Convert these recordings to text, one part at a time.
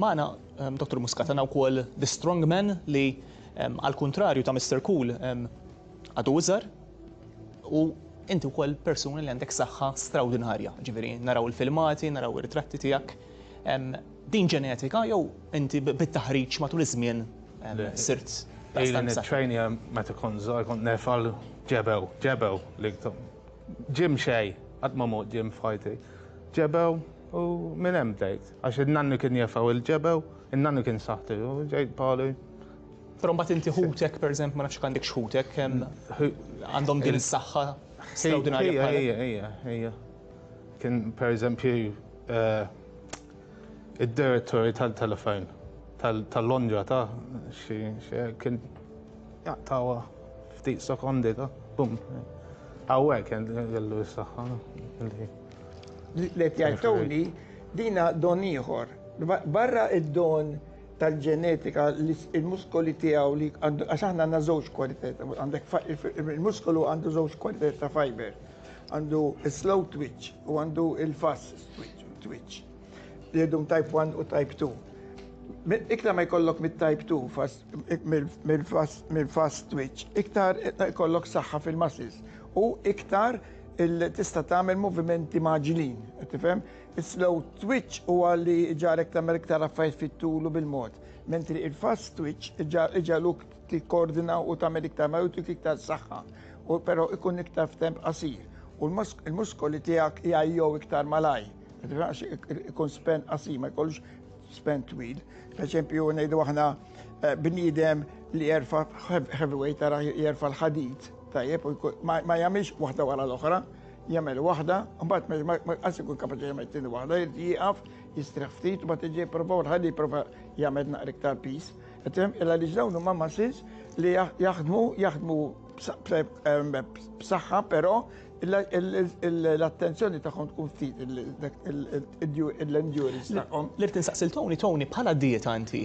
Magħna Dottor Muscat għandna wkoll The Strong Man li għall-kuntrarju ta' Mister Cool għadu iżgħar u inti wkoll persuna li għandek saħħa strawdinarja, ġifieri naraw il-filmati, naraw ir-ritratti tiegħek. Din ġenetika jew inti bit-taħriġ matul iż-żmien sirt daqstant b'saħħa? Ilni nittrejna meta kont żgħir kont nerfa' l-ġebew, ġebew li ġie mxej qatt ma mort ġie f'ħajti. Ġebew u minn hemm bdejt. Għax in-nannu kien jefgħu il-ġebew, in-nannu kien saħtu, ġej Paolo. Però mbagħad inti ħutek, pereżempju, ma nafx jekk għandekx ħutek, għandhom din is-saħħa straordinarja bħalek. Ejja, ejja, ejja. Kien pereżempju id-direttori tal-telefon tal-Londra ta' xi kien jaqtgħuha ftit sekondi ta' bum. Hawnhekk kellu s-saħħa. Let jgħid Tony, dina don ieħor. Barra id-don tal-ġenetika li il-muskoli tiegħu li għax aħna għandna żewġ kwalitajiet, għandek il-muskolu għandu żewġ kwalitajiet ta' fiber. Għandu slow twitch u għandu il-fast twitch. Li għedhom type 1 u type 2. Iktar ma jkollok mit-type 2 mill-fast twitch, iktar jkollok saħħa fil-muscles u iktar Illi tista' tagħmel movimenti mgħaġġlin, qed tifhem? Is-slow twitch huwa li jġagħlek tagħmel iktar affarijiet fit-tul u bil-mod, mentri il-fast twitch iġagħluk tikkoordina u tagħmel iktar malajr u jtik iktar saħħa, u però ikun iktar f'temp qasir. U l-muskoli tiegħek jgħajjew iktar malajr, qed tifhem, għax ikun span qasir, ma jkollux Spen twil, per eżempju ngħidu aħna eh, bniedem li jerfa heavyweight tara jerfa l-ħadid, tajjeb, ma jagħmilx waħda wara l-oħra, jagħmel waħda, mbagħad ma qas ikun kapaċi jagħmel tieni waħda, jieqaf, jistrieħ ftit, mbagħad iġi jipprova u l-ħaddi jipprova jagħmel naqra iktar pis. Illa li dawn huma muscles li jaħdmu jaħdmu b'saħħa però L-attenzjoni tagħhom tkun ftit l-endurance tagħhom. L-irt insaqsil Tony, Tony, bħala dieta inti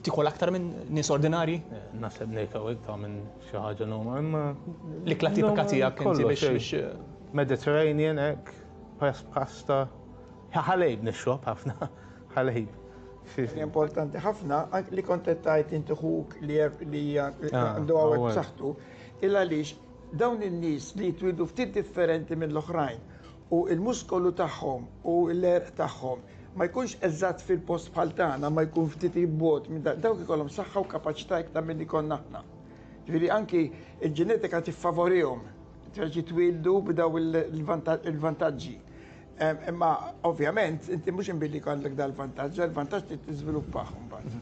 tikol aktar minn nies ordinarji? Naħseb ngħid hawnhekk ta' minn xi ħaġa normal, imma. L-ikla tipika tiegħek inti biex. Mediterranean hekk, pasta, ħalejb nixrob ħafna, ħalejb. Importanti ħafna li kont qed tgħid inti ħuk li għandu hawn b'saħħtu, il għaliex Dawn in-nies li jitwieldu ftit differenti mill-oħrajn u l-muskolu tagħhom u l-għerq tagħhom ma jkunx eżatt fil-post bħal tagħna imma jkun ftit 'il bogħod minn dan, dawk ikollhom saħħa u kapaċità iktar milli jkollna aħna. Ġifieri anki l-ġenetika tiffavorihom biex jitwieldu b'dawn il-vantaġġi. Imma ovvjament inti mhux inbilli jkollok dal-vantaġġ, dal-vantaġġ trid tiżviluppah imbagħad.